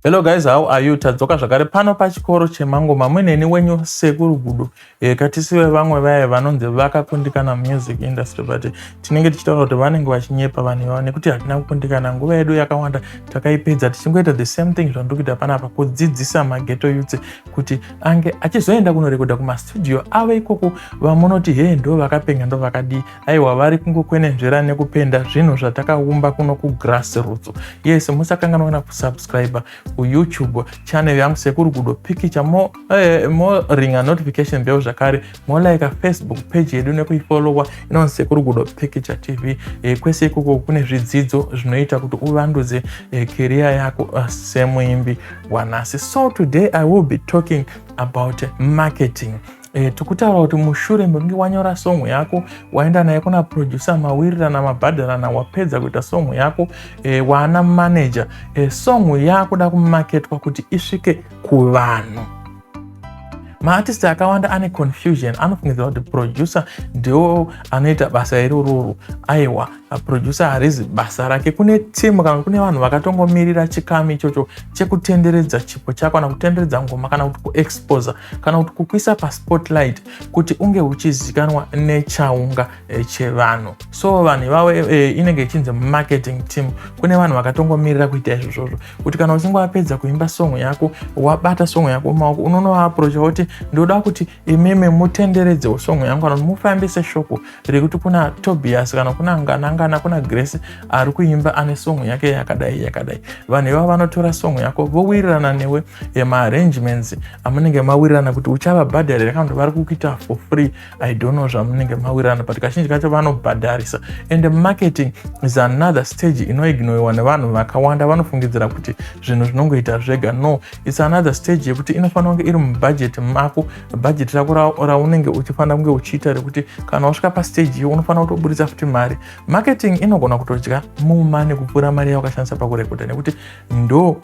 Hello guys, how are you? Tadzoka zvakare pano pachikoro chemangoma mweneni wenyu sekuru gudo e, eh, katisive vamwe vaye vanonzi vakakundikana music industry but tinenge tichitaura kuti vanenge vachinyepa vanhu ivavo nekuti hatina kukundikana nguva yedu yakawanda takaipedza tichingoita the same thing zvandiri kuita panapa kudzidzisa mageto yutse kuti ange achizoenda kunorekodha kumastudio avo ikoko vamunoti hee ndo vakapenga ndo vakadii aiwa vari kungokwenenzvera nekupenda zvinhu zvatakaumba kuno kugrass roots yes musakanganwa kana kusubscribe kuyoutube channel yangu sekuru gudo pikicha mo, eh, mo ringa notification bell zvakare molaika facebook page yedu nekuifolowa inonzi sekuru gudo picture tv e, kwese ikoko kune zvidzidzo zvinoita kuti uvandudze e, eh, keriya yako uh, semuimbi wanhasi so today i will be talking about marketing E, eh, tikutaura kuti mushure mekunge wanyora song yako waenda naye kuna producer mawirirana mabhadharana wapedza kuita song yako e, waana manager e, song yakuda kumaketwa kuti isvike kuvanhu maartist akawanda ane confusion anofungidzira kuti producer ndiwo anoita basa irororo aiwa producer harizi basa rake kune timu kana kune vanhu vakatongomirira chikamu ichocho chekutenderedza chipo chako kana kutenderedza ngoma kana kuti kuexposer kana kuti kukuisa paspotlight kuti unge uchizikanwa nechaunga Eh, chevanhu so vanhu ivavo eh, inenge ichinzi marketing team kune vanhu vakatongomirira kuita izvo zvozvo kuti kana uchinge wapedza kuimba song yako wabata song yako maoko unonowaaprocha woti ndoda kuti imimi mutenderedzewo song yangu kana kuti mufambise shoko rekuti kuna tobias kana kuna nganangana kuna grace ari kuimba ane song yake yakadai yakadai vanhu ivavo vanotora song yako vowirirana newe eh, maarrangements amunenge mawirirana kuti uchavabhadharira kana kuti vari kukuita for free i don't know zvamunenge mawirirana but kazhinji kacho vanobhadharisa and marketing is another stage inoignoiwa nevanhu vakawanda vanofungidzira kuti zvinhu zvinongoita zvega no its another stage yekuti inofanira kunge iri mubudget mako budget rako raunenge uchifanira kunge uchiita rekuti kana wasvika pastage iyo unofanira kutoburitsa futi mari marketing inogona kutodya mumane kupfuura mari yawakashandisa pakurekodha nekuti ndo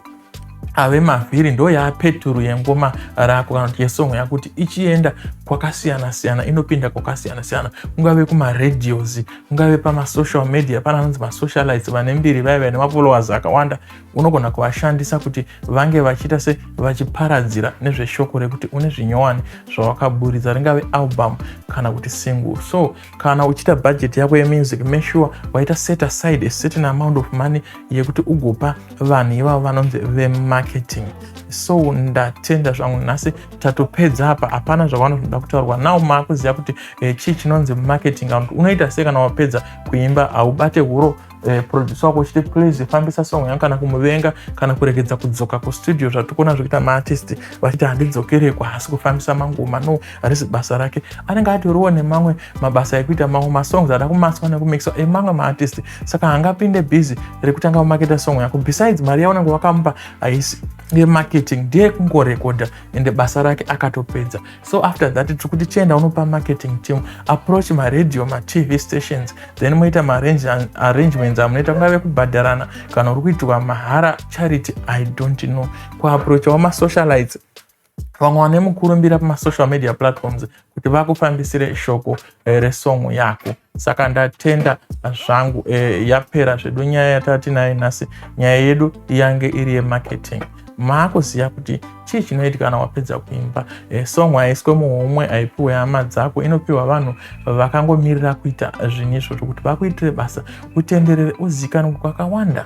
ave mavhiri ndo yaapeturu yengoma rako kana kuti yesong yakuti ichienda kwakasiyana siyana inopinda kwakasiyana siyana kungave kumaradios kungave pamasocial media pana anonzi masocialites vane mbiri vaya vaine mafollowers akawanda unogona kuvashandisa kuti vange vachiita se vachiparadzira nezveshoko rekuti une zvinyowani zvawakaburitsa ringave album kana kuti single so kana uchiita budget yako yemusic make sure waita set aside a certain amount of money yekuti ugopa vanhu ivavo vanonzi vemarketing so ndatenda zvangu nhasi tatopedza apa hapana zvakanoda kutaurwa now maakuziva kuti eh, chii chinonzi marketing and unoita sei kana wapedza kuimba haubate huro eh, producer wako uchiti please fambisa song yangu kana kumuvenga kana kuregedza kudzoka kustudio zvatiri kuona zvekuita maartist vachiti handidzokerekwa hasi kufambisa mangoma no harisi basa rake anenge atoriwo nemamwe mabasa ekuita mamwe masongs ada kumaswa nekumixwa emamwe maartist saka hangapinde busy rekutanga kumaketa song yako besides mari yaunenge wakamupa haisi yemarketing ndiye kungorekodha ende basa rake akatopedza so after that tiri kuti chienda unopa marketing team approach maradio matv stations then moita maarrangements amunoita kungave kubhadharana kana uri kuitirwa mahara charity i don't know kuaprochawo masocialites vamwe vane mukurumbira pamasocial media platforms kuti vakufambisire shoko here song yako saka ndatenda zvangu e, yapera zvedu nyaya yatati nayo nhasi nyaya yedu yange iri yemarketing maakuziva kuti chii chinoitika kana wapedza kuimba e, song haiswe muhomwe haipiwe hama dzako inopiwa vanhu vakangomirira kuita zvinhu izvozvo kuti vakuitire basa utenderere uzikanwe kwakawanda